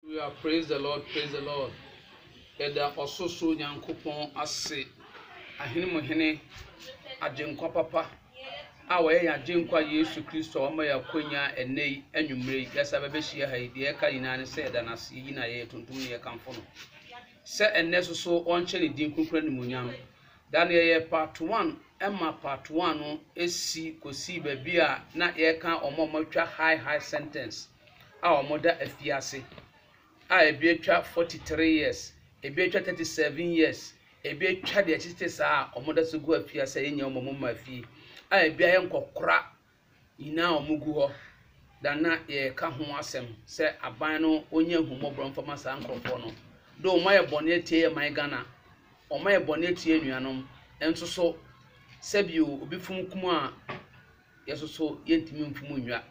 Hallelujah praise the Lord praise the Lord yɛda ɔsorosoro Nyankopɔn ase ahene mu hene agyenkwa papa a wɔyɛ yɛn agyenkwa Yesu Kristo a wɔma yɛ akonya ɛnɛ yi anwummere yi yɛsa bɛbɛhyia ha yi deɛ ɛka nyinaa ne sɛ yɛda no ase yɛyi na yɛyɛ tuntum ne yɛkamfo no sɛ ɛnɛ so so ɔnkyɛ ne din kunkun ne munyam da no yɛyɛ part one ɛma part one no esi kɔsii baabi a na yɛka wɔn a wɔatwa high high sentence a wɔda afiase a ebi atwa forty three years, ebi atwa thirty seven years, ebi atwa deɛ ɛtete saa a wɔda so gu afiase a yɛnnya wɔn mma fie a ebi ayɛ nkɔkora nyinaa a wɔgu hɔ. Na na yɛreka ho asɛm sɛ aban no wɔnyɛ ahummɔborɔ mfa ma saa nkurɔfoɔ no. Do wɔayɛ bɔne atia yɛn man Ghana, wɔayɛ bɔne atia anuanom nso so sɛbi obi funu kum a yɛn nso so yɛntumi mfu mu nnwa.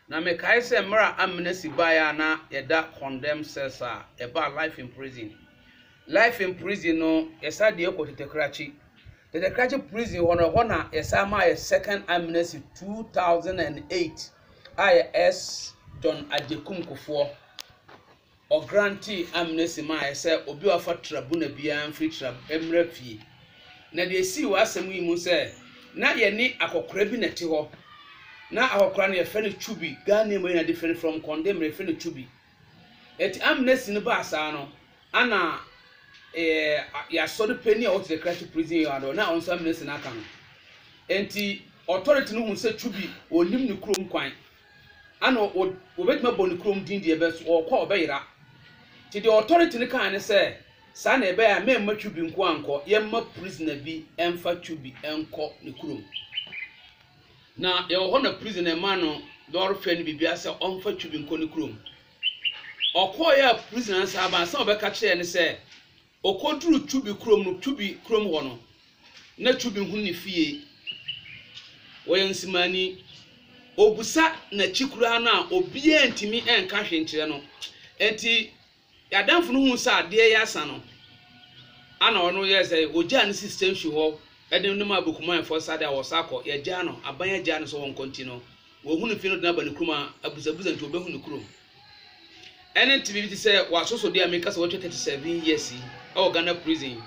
Na mekae sɛ mmerɛ a amnesty baeɛ a na yɛda condemn cells a ɛbaa life in prison. Life in prison no yɛsa deɛ kɔ Tetekrakye. Tetekrakye prison hɔ no ɛhɔ na yɛsa maa yɛ second amnesty 2008 a yɛ S. John Agyekum Kufoɔ. Ɔgrantee amnesty mae sɛ obi a wafa trabuna biara mfiri tra mmra fie. Na deɛ esii wɔ asɛm yi mu sɛ na yɛne akɔkora bi na ɛte hɔ. Na akɔkora no yɛfrɛ no Chubi, Ghanaian mu yɛna different from Kɔndemire yɛfrɛ no Chubi. Eti amnesty no baa saa no ana eh, yɛasɔre panyin a ɔte Krachi prison yard hɔ na ɔno nso amnesty no aka no. Enti authority no hu sɛ Chubi ɔnnim ne kurom kwan. Ana wɔbɛtumi abɔ ne kurom din deɛ bɛ so ɔɔkɔ a ɔbɛyera? Nti deɛ authority no kaeɛ ne sɛ, saa na ɛbɛyɛ a mɛmma Chubi nkoa nkɔ, yɛmma prisoner bi mfa Chubi nkɔ ne kurom. Na yɛwɔ hɔ na prisoner maa no lɔɔre fare ne biribiara sɛ ɔmfa Chubi nkɔ ne kurom. Ɔkɔeɛ a prisoner no san baa, ansa na ɔbɛka kyerɛɛ no sɛ, Ɔkɔduruu Cubi kurom no, Cubi kurom hɔ no, na Cubi hunu ne fie. Ɔyɛ nsimaani. Ɔbusa n'akyi koraa no a, obiara ntumi nka hwee nkyerɛ no. Enti Adamfo no huu sɛ adeɛ reyɛ asa no, ana ɔno yɛɛ sɛ ɔgyaa no si station hɔ de no maa Bokumanfoɔ sa de a wɔsa kɔ. Yɛagyaa no, aban agyaa no sɛ ɔnkɔ nti no, wɔahu no fie no de no aba ne kurom a, abusabusa nti wɔbɛhu ne kurom. Ɛne tebea bi te sɛ w'asosɔde a meka sɛ watwa 37 years yi wɔ Ghana prison.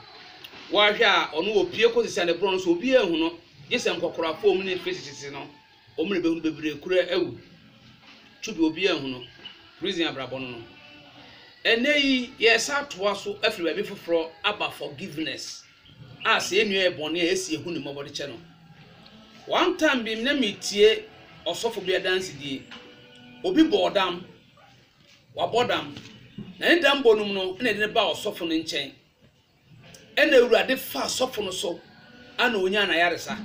Woahwɛ a ɔno opue kɔsi sɛ ne borɔn no so obiara nhu no gye sɛ nkɔkorafo a wɔn ne face tete no wɔn na behu bebree kura awu. Tubi obiara nhu no. Prison abrabɔ no no. Ɛnɛ yi yɛresa atoa so afiri baabi foforɔ aba forgiveness. a sɛ yɛn nua yɛ bɔne a yɛsi yɛhu ne mmɔbɔ de kyɛ no. One time bi na metie ɔsɔfo bi adansedie. Obi bɔɔ dam, wabɔ dam, na ne dam bɔ no mu no na ɛde no baa ɔsɔfo no nkyɛn. Ɛna awurade faa sɔfo no so ana ɔnyaa n'ayaresa.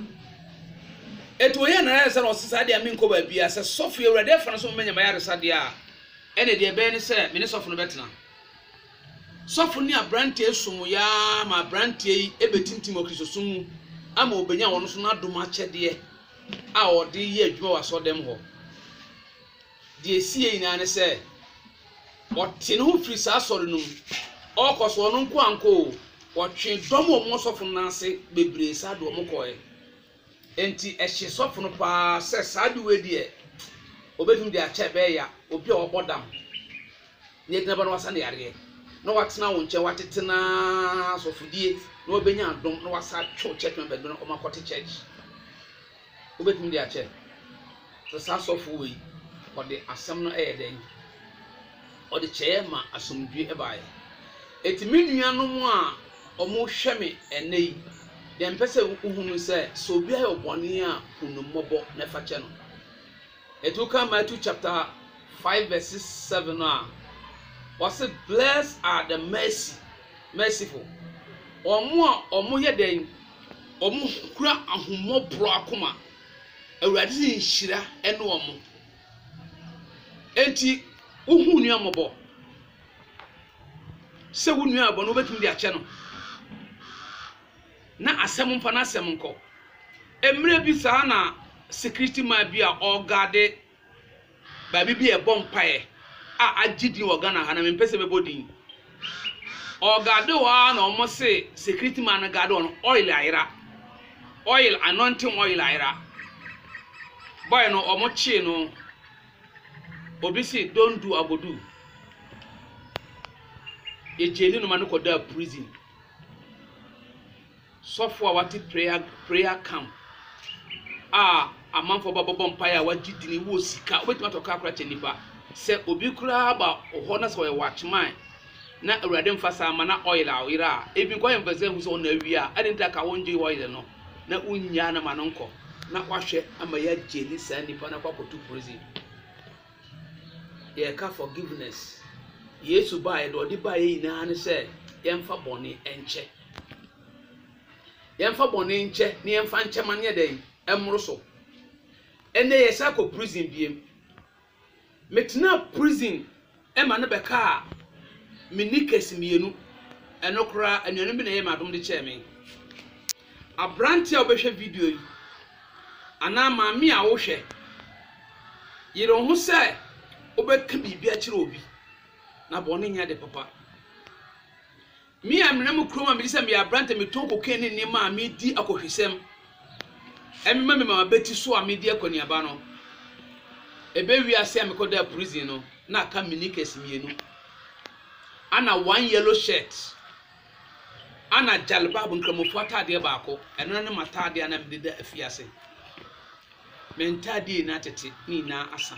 Ɛti ɔyɛ n'ayaresa na ɔse saa deɛ menkɔ baabi a sɛ sɔfo awurade afa no so mɛnya m'ayaresa deɛ a ɛna deɛ ɛbɛyɛ ne sɛ me ne sɔfo no bɛtena. Sɔfo ne aberanteɛ som yɛ ara ma aberanteɛ yi bɛtintim wɔ Kristosom mu ama ɔbɛnya wɔn nso n'adom akyɛdeɛ a ɔde reyɛ adwuma wɔ asɔrdan hɔ. Deɛ ɛsi yɛ nyinaa ne sɛ, ɔte ne ho firi saa asɔre no mu. Ɔkɔ so ɔno nko ankɔ o, wɔtwe dɔm a wɔwɔ sɔfo no nan ase bebree saa de wɔn kɔɛ. Enti ɛhyee sɔfo no paa sɛ saa ade wei deɛ, ɔbɛtumi de akyɛ ɛbɛyɛ ya obi a wabɔ dam na yɛgyina ba na wasa no yareɛ, na watena wo nkyɛn, watete no ara asɔfodie, na wabɛnya adom, na wasa atwe wo church members bi na wɔakɔte church. Wobɛtumi de akyɛ. Sɛ saa sɔfo wei ɔde asɛm no yɛ dɛn? Ɔde kyɛeɛ ma asomdwoeɛ baeɛ. Enti me nuanom a wɔhwɛ me ɛnnɛ yi, deɛ mepɛ sɛ wohunu sɛ, sɛ obi ayɛ bɔne a, hu no mmɔbɔ na fa kyɛ no. Enti woka Matthew chapter 5 verse 7 no a, wɔse blessed are the mercy, merciful. Wɔn a wɔyɛ dɛn? Wɔkura ahummɔborɔ akoma. Awurade dze nhyira ne wɔn. Enti wohu wo nua mmɔbɔ sɛ wo nua bɔne wobɛtumi de akyɛ no na asɛm mfa n'asɛm nkɔ. Mmerɛ bi saa na security man bi a ɔreguarde. Baabi bi a yɛbɔ mpaeɛ a agye din wɔ Ghana ha na mempɛ sɛ mɛbɔ din. Ɔgaade hɔ ara na wɔn se security man no gaade hɔ no oil ayera. Oil anointing oil ayera. Boy no wɔn kyee no. Obi se don't do I go do. Yɛgyee ne no ma no kɔdaa prison. Sɔfo a wate prayer prayer camp a amanfoɔ ba bɛbɔ mpaeɛ a wagye dini wɔ sika wobɛtumi atɔ kaa koraa kyɛ nipa sɛ obi koraa ba hɔ na sɛ ɔyɛ watchman na awurade mfa saa ma na oil a ɔyera a ebi nkɔ yɛ mfɛsɛ hu sɛ ɔna awie a ɛde nta ka wongye oil no na wonyaa na ma no nkɔ na wahwɛ ama yɛ agyeli saa nipa no akɔ akɔto prison yɛka forgiveness yesu baa yɛde ɔde baa yɛ nyinaa ne sɛ yɛmfa bɔne nkyɛ Yɛmfa bɔne nkyɛ na yɛmfa nkyɛ ma no yɛ dɛn? Ɛmmoro so. Ɛnnɛ yɛsan akɔ prison biom. Metenaa prison ma no bɛkaa me knickers mmienu. Ɛno koraa anuanom bi na ɛyɛɛ me adom de kyɛɛ me. Aberanteɛ a wobɛhwɛ video yi anaa maame a wohwɛ, yere wo ho sɛ wobɛka biribi akyerɛ obi na bɔne nyɛ ade papa. Me a menam kurom a mede sɛ meyɛ aberante metɔn cocaine ne nneɛma a medi akɔhwisɛm mema me mama bɛti so a medi akɔneaba no, ɛbɛwie ase a mekɔdaa prison no na aka me knickers mmienu ana one yellow shirt ana jalbab nkramofoɔ ataadeɛ baako, ɛno na ne m'ataadeɛ a na mede da afiase. Me ntaadeɛ nyinaa atete, ne nyinaa asa,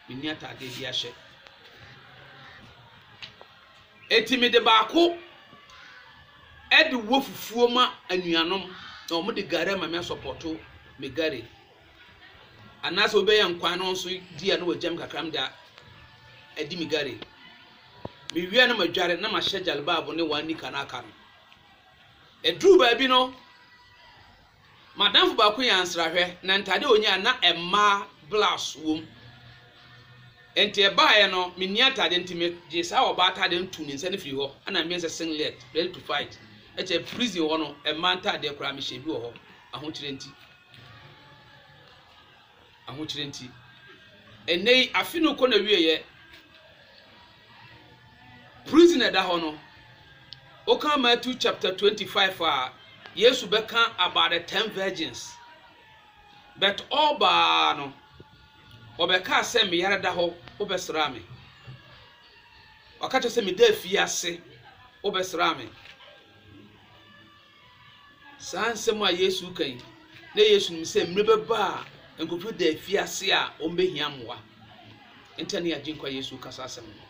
menni ataadeɛ bi ahyɛ. Enti mede baako de wɔ fufuo ma anuanom na wɔn de gari ama me asɔpɔto me gari. Anaasɛ obi bɛyɛ nkwan na wɔn nso di a na wɔagya me kakra mede adi me gari. Me wie a na madware na mahyɛ jalbab ne one nika no aka no. Ɛduru baabi no. M'adamfo baako nyaa nsrahwɛ, na ntade a onyae na ɛmaa blouse wom. Enti ɛbaeɛ no, menni atade nti megyee saa ɔbaa atade no too ne nsa no firii hɔ, ɛna meyɛɛ sɛ singlet, ready to fight. Ɛkyɛ prison hɔ no, mmaa ntadeɛ koraa mehyɛ bi wɔ hɔ, ahokyerɛ nti. ahokyere nti. Ɛnnɛ yi, afe no rekɔ n'awieeɛ. Prison na ɛda hɔ no, woka Matthew chapter 25 a, Yesu bɛka about the ten virgins. But ɔbaa no, ɔbɛkaa sɛ me yare da hɔ, wobɛsraa me. Ɔka kyerɛ sɛ meda afiase, wobɛsraa me. Saa nsɛm a Yesu reka yi, na Yesu nim sɛ mmere bɛba a nkurɔfo da afiase a wɔbɛhia mmoa. Nta ne Agyenkwa Yesu reka saa asɛm no.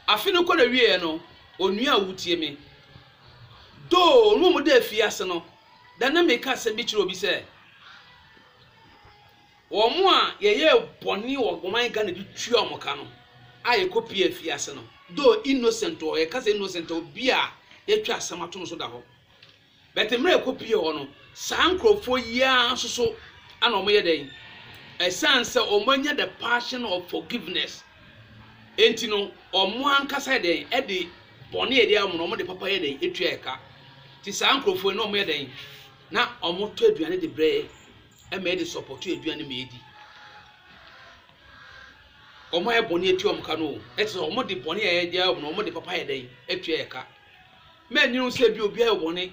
Afe no kɔ n'awieeɛ no, onua a wotie me, doo wɔn a wɔda afiase no, da na meka asɛm bi kyerɛ obi sɛ, Wɔn a yɛyɛɛ bɔne wɔ ɔman Ghana de tua wɔn ka no a yɛkɔ pie afiase no though innocent wɔ hɔ, yɛka sɛ innocent wɔ bi a yɛatwa asɛm ato no so da hɔ but mmerɛ a yɛkɔ pie hɔ no saa nkurɔfoɔ yi ara nso so ana wɔyɛ dɛn ɛsiane sɛ wɔn anya the passion of forgiveness enti no wɔn ankasa yɛ dɛn ɛde bɔne yɛde ayɛ wɔn no wɔn de papa yɛ dɛn ɛtua ɛka ti saa nkurɔfoɔ yi na wɔn yɛ dɛn na wɔn tɔ aduane de brɛ Ɛma yɛde sɔpɔto aduan no ma yedi. Wɔn a yɛayɛ bɔne atua wɔn ka no, ɛte sɛ wɔde bɔne a yɛde ayɛ wɔn no, wɔde papa yɛ dɛn atua yɛn ka. Mɛnyere wo sɛ bi obi ayɛ bɔne,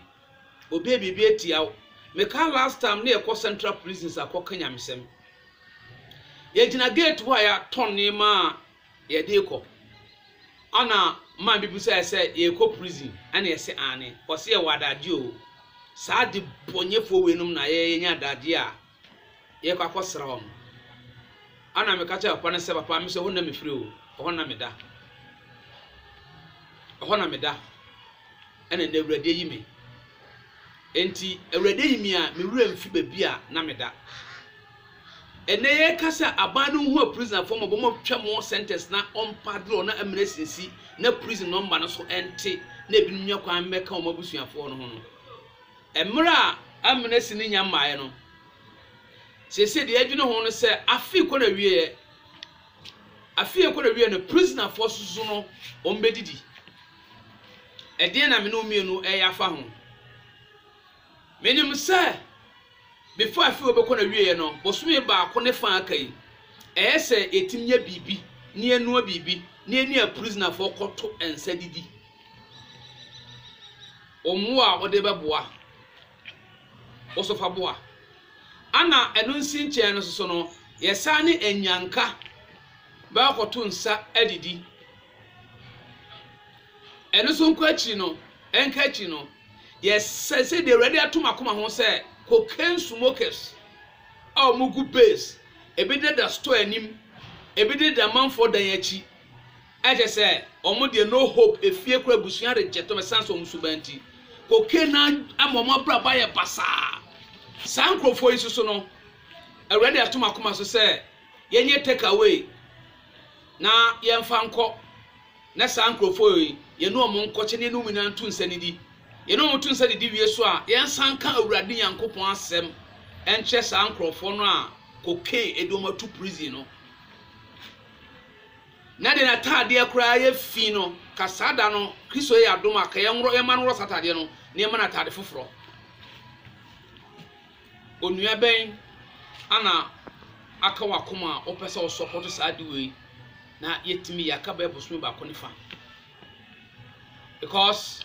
obi ayɛ biribi atia wo. Meka last time ne yɛkɔ central prisons akɔka nyamesɛm. Yɛgyina gate hɔ a yɛatɔn nneɛma a Yɛde rekɔ. Ana maa mibisae sɛ, Yɛrekɔ prison? Ɛna yɛse, Aane. Ɔse, Yɛwɔ adagye oo. Saa adebɔnyɛfoɔ weinom na yɛyɛ yɛnya adagye a yɛkɔ akɔsra wɔn. Ɛna meka kyerɛɛ papa no sɛ, Papa, mese ɛhɔ na mefiri oo, ɛhɔ na meda. Ɛhɔ na meda. Ɛna nnɛ Awurade ayi me. Enti Awurade ayi me a me werɛ mfi baabi a na meda. Ɛnnɛ yɛrekasa a aban no nhu aprisonafoɔ ma wɔn atwa wɔn sentence na ɔmpa dorɔ na amena asinsi na prison nɔmba no so ɛnte na ebinom nya kwan mmɛka wɔn abusuafoɔ no ho no. Mmerɛ a amena si no nya mmaeɛ no, seesei deɛ yɛdwene ho no sɛ afe kɔ n'awieɛ. Afei ɛkɔ na wiɛ no prisoner foɔ soso no wɔn bɛ didi ɛdeɛn na me ne wo mmienu ɛyɛ afa ho me nim sɛ before afei wɔ bɛkɔ na wiɛ yɛ no bosome baako ne fa aka yi ɛyɛ sɛ yɛtim yɛ biribi ne yɛnua biribi ne yɛne a prisoner foɔ kɔto nsa didi wɔn wo a wɔde bɛboa. Osopaboa. Ana ɛno nsi nkyɛn no soso no yɛsan ne anyanka bɛkɔto nsa adidi. Ɛno nso nkɔ akyiri no, ɛnka akyiri no, yɛsɛ sɛ deɛ Awurade ato m'akoma ho sɛ cocaine smokers a wɔgu base, ebi deda store anim, ebi deda amanfoɔ dan akyi. Ɛkyɛ sɛ wɔn deɛ no hope, efie koraa abusua regye tom ɛsan sɛ wɔn suban nti. Cocaine no ama wɔn abrabɔ ayɛ basaa. Saa nkorɔfoɔ yi soso no, Awurade ato m'akoma so sɛ yɛnyɛ take away na yɛmfa nkɔ na saa nkorɔfoɔ yi yɛne wɔn nkɔkyɛ na yɛne wɔn nyinaa nto nsa nidi. Yɛne wɔn to nsa didi wie so a, yɛnsan nka Awurade Nyankopɔn asɛm nkyerɛ saa nkorɔfoɔ no a cocaine de wɔn ato prison no. Na deɛ n'atadeɛ koraa yɛ fi no, ka saa da no, Kristo yɛ yɛn adom a, ka yɛnworɔ, yɛmma no nworɔ saa atadeɛ no, na yɛmma no atade foforɔ. Onua bɛn ana aka w'akoma a wopɛ sɛ wosɔpɔto saa ade wei na yɛtumi yɛ aka bɛyɛ bosome baako ne fa? Because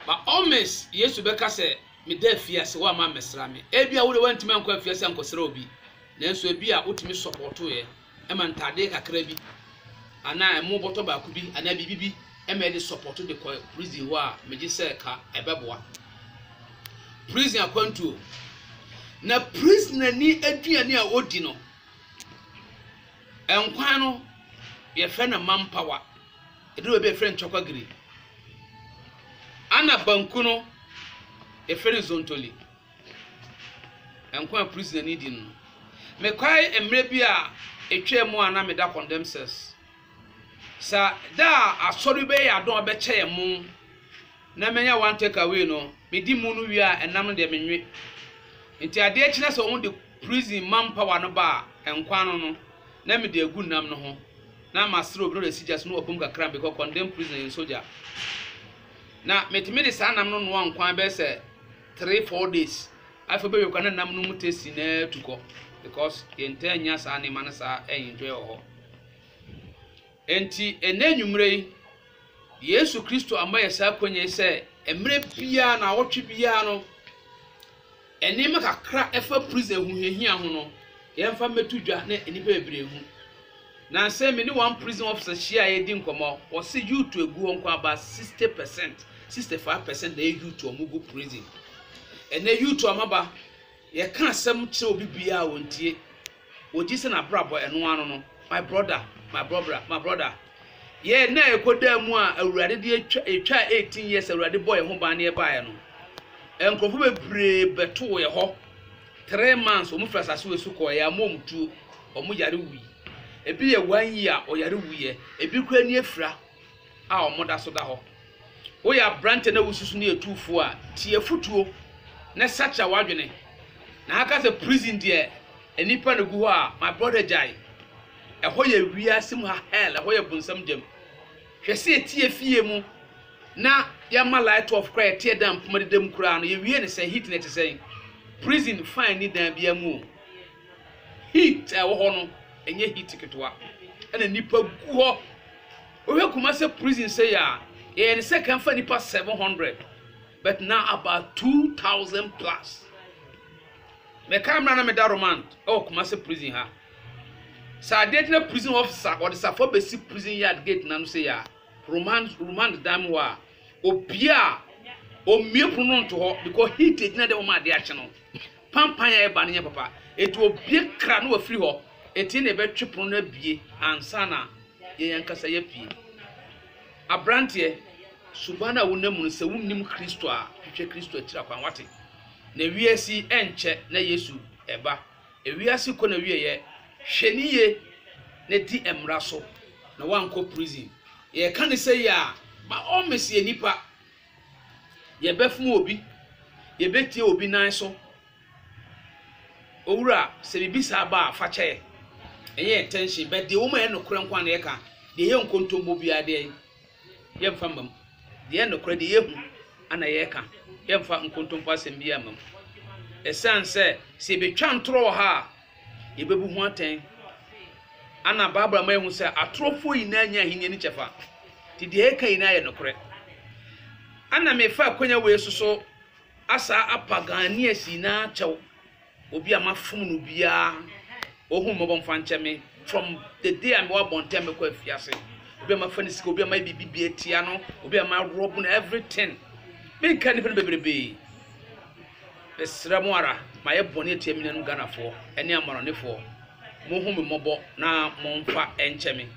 by all means, Yesu bɛka sɛ, meda afiase, woamma ammɛsra me. Ebia wo deɛ woantumi ankɔ afiase ankɔsra obi, nanso ebia wotumi sɔpɔtoeɛ ma ntaadeɛ kakra bi anaa ɛmo bɔtɔ baako bi anaa biribi bi ma yɛde sɔpɔto de kɔ prison hɔ a, megye sɛ ka ɛbɛboa. Prison akwantuo. Na prisonani aduane a ɔdi no, nkwan no, yɛfrɛ no mampawa. Ɛduru baabi a yɛfrɛ no nkyɔkwagiri. Ɛna banku no, yɛfrɛ no zontoli. Nkwa a Prisonerni Di no. Mekae mmere bi a etwaam a na meda Condemnsaires. Sɛ da a asɔre bɛyɛ yɛn adom a ɔbɛkyɛ yɛn mo na manya one take away no, medi mo no wie a, ɛnam no deɛ menwe. Enti adeɛ kye na sɛ wɔde prison manpower no ba a, nkwa ano no, na mede agu nam no ho na masrɛ obi na ɔde asi gya so na wabom kakra bi kɔ condemn prisoner yɛn sogya. Na metumi de saa nam no noa nkwan bɛyɛ sɛ three four days afei wobɛwie kora na nam no mu taste na atu kɔ because yɛntaa nya saa nneɛma no saa ɛnjoy wɔ hɔ enti ɛnɛ nwummerɛ yi yesu kristo ama yɛ saa akwanya yi sɛ mmerɛ biara na awɔtwe biara no nneɛma kakra ɛfa prison ho hiahia ho no yɛmfa mmɛto dwa na nnipa bebree hu Nansa yi me ne one prison officer hyia a yɛredi nkɔmmɔ, ɔse youth agu hɔ nko about sixty percent, sixty five percent na ɛyɛ youth a wɔgu prison. Ɛnɛ youth a wɔaba, yɛka asɛm kyerɛ obi biara a wɔntie, wɔgye sɛ n'abrabɔ ɛno ara no no, my brother, my brother, my brother. Yɛ ɛnɛ a yɛkɔdaa mu a Awurade de atwa, yɛtwaa eighteen years a Awurade bɔ yɛn ho ban ne yɛbaeɛ no, nkurɔfoɔ bebree bɛtoo yɛ hɔ, Three months wɔn firi asase wei so kɔɔ yɛ amoa wɔn tuo wɔn yare wui ebi yɛ one year ɔyare wui yɛ ebi kura ni afira a wɔn da so da hɔ woyɛ aberante na wosusu ne etuufoɔ a tie afutuo na sakya wadwene na ha ka sɛ prison deɛ nnipa na gu hɔ a my brother gyae ɛhɔ yɛ wiase mu ha hell ɛhɔ yɛ bonsam gyam. Hwɛ sɛ ɛteɛ fie mu na yɛma light off koraa ɛteɛ dan mpoma deda mu koraa no yɛwie no sɛn heat no ɛte sɛn prison fine ni dan biara mu o heat a ɛwɔ hɔ no ɛnyɛ heat ketewa ɛna nnipa gu hɔ wohwɛ Kumase prison sɛ yɛ a yɛyɛ ne sɛ kan fa nnipa 700 but now about 2000 plus mɛka mmerɛ na meda romand ɛwɔ Kumase prison ha Sɛ adeɛ gyina prison officer a ɔde safoa bɛsi prison yard gate no ano sei a, romans romans dan mu hɔ a, obia a ɔmmue pono no nto hɔ because heat ɛgyina dɛ wɔma adeɛ akye no. Pampan a ɛba no nyɛ papa. Ɛti obie kra na wafiri hɔ. Ɛti na ɛbɛtwe pono no abie ansa na yɛn ankasa yɛapue. Abranteɛ, suban no a wonam mu no sɛ wonnim Kristo a, hwehwɛ Kristo akyiri akwan. Wate? Na wiase yi ɛnkyɛ na Yesu ɛba. Ewiase kɔ n'awieɛ, hwɛ no yie na di mmra so na woankɔ prison. Yɛreka no sei a, by all means yɛ nnipa, yɛbɛfom obi, yɛbɛtie obi nan so. Owura, sɛ biribi saa ba a, fa kyɛ yɛn. Ɛnyɛ yɛn tension, but deɛ ɛwɔ mu a ɛyɛ nokorɛ nko ara na yɛka, deɛ ɛyɛ nkontombo biara deɛn, Yɛmfa mma mu. Deɛ ɛyɛ nokorɛ, deɛ yɛhu na yɛka. Yɛmfa nkontompo asɛm biara mma mu. Ɛsiane sɛ, sɛ yɛbɛtwa ntorɔ wɔ ha a, yɛbɛbu ho atɛn. Ana Bible ama yɛahu sɛ atorofoɔ nyinaa nya ahennie no kyɛfa. Nti deɛ yɛka nyinaa yɛ nokorɛ. Ana mefa akwanya wei so so asaa apa Ghanaians nyinaa kyɛw. Obi a mafom no biara, ohu me mmɔbɔ mfa nkyɛ me from the day a mewɔ abɔntɛn mekɔ afiase. Obi a mafa ne sika, obi a mayɛ biribi bi atia no, obi a marɔbo no, everything. Menka nnipa no bebrebee. Mesrɛ mo ara, mayɛ bɔne atia me nuanom Ghanafoɔ ne amanɔnefoɔ. Monhu me mmɔbɔ na momfa nkyɛ me.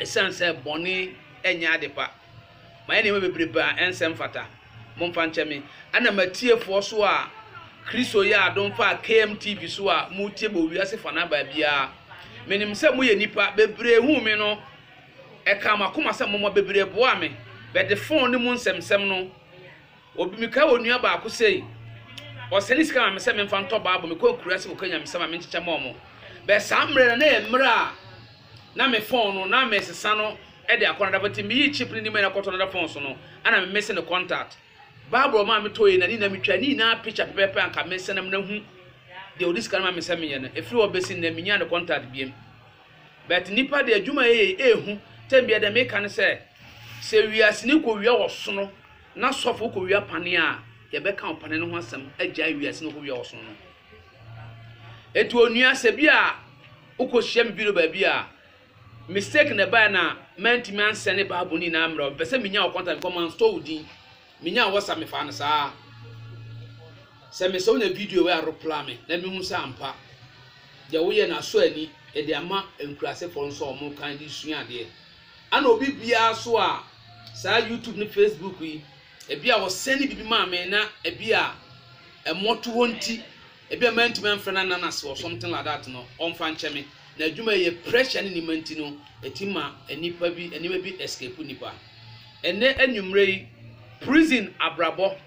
Ɛsiane sɛ bɔne nyɛ ade pa. Mayɛ nneɛma bebrebe a ɛnsɛ mfata. Momfa nkyɛ me. Ɛna m'atiefoɔ so a Kristo yɛ adom faa KMTV so a moretie me wɔ wiase fanaa baabiara. Menim sɛ moyɛ nnipa. Bebree huu me no, ɛkaa mo akoma sɛ momma. Bebree boaa me. Bɛde fon ne mu nsɛmnsɛm no. Obi mekae onua baako sei, ɔsɛne sika ma me sɛ memfa ntɔ bible, mekɔ akuraase kɔka nyamesɛm a menkyekyɛ ma ɔmo. Bɛs saa mmerɛ no na yɛ mmerɛ a na me phone no na mesesa no de akɔ another phone, nti meyii chip no nima nyinaa kɔtɔ another phone so no ana me missing ne contact. Bible ɔmaa me tɔeɛ na ne nyinaa metwaa ne nyinaa picture pɛpɛpɛ anka mensɛ na mena hu deɛ ɔde sika no ma me sɛ menyɛ no, ɛfiri hɔ bɛsi nnɛ menyaa ne contact biem. But nnipa deɛ adwuma a yɛyɛ yi ɛɛhu, tɛm biara deɛ meka ne sɛ, sɛ wiase no kɔ wia wɔ sono Na sɔfo no kowia pane a yɛbɛka ɔpane no ho asɛm agyae wiase na okowia ɔsom no. Enti onua, sɛ bi a wokohyia me bio baabi a, mistake na ɛbae na mantumi ansɛne Bible no nyinaa mmerɛ wo. Mepɛ sɛ menya wo contact because manstore wo din. Menyaa WhatsApp, mefaa no saa. Sɛ mesɛ wonya video wei a reply me na mehu sɛ ampa deɛ woyɛ no asɔ ani de ama nkurasefoɔ nso a wɔkan de sua adeɛ. Ana obi biara so a saa YouTube ne Facebook yi, ebi a wɔsɛne biribi maa me na ebi a mmɔtohɔ nti, ebi a mantumi amfrɛ no anna no ase or something like that no, ɔmfa nkyɛ me. Na adwuma yi yɛ pressure ne nneɛma nti no, ɛtumi ma nnipa bi, nneɛma bi escape nnipa. Ɛnnɛ anwummere yi, prison abrabɔ.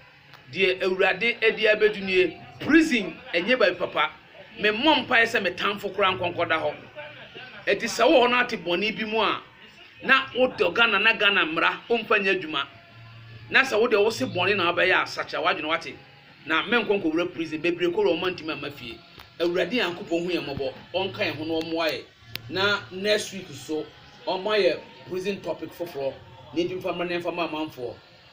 Deɛ awurade ɛde abɛdu nie. Prison ɛnyɛ baabi papa. Me mmɔ mpaeɛ sɛ me tanfo koraa nkɔ nkɔda hɔ. Ɛti sɛ wowɔ hɔ na wote bɔne bi mu a, na wodɔ Ghana na Ghana mmara womfa nyɛ adwuma. Na sɛ wodeɛ wose bɔne na wobɛyɛ a, sakyera w'adwene wate. Na mɛnkɔ nkɔwura prison. Bebree kɔwura wɔn antumi amma fie. Awurade Nyankopɔn hu yɛn mmɔbɔ, ɔnka yɛn ho na ɔmmoa yɛn na next week nso ɔmma yɛ prison topic foforɔ na yɛntumi mfa mmra na yɛmfa mma amanfoɔ.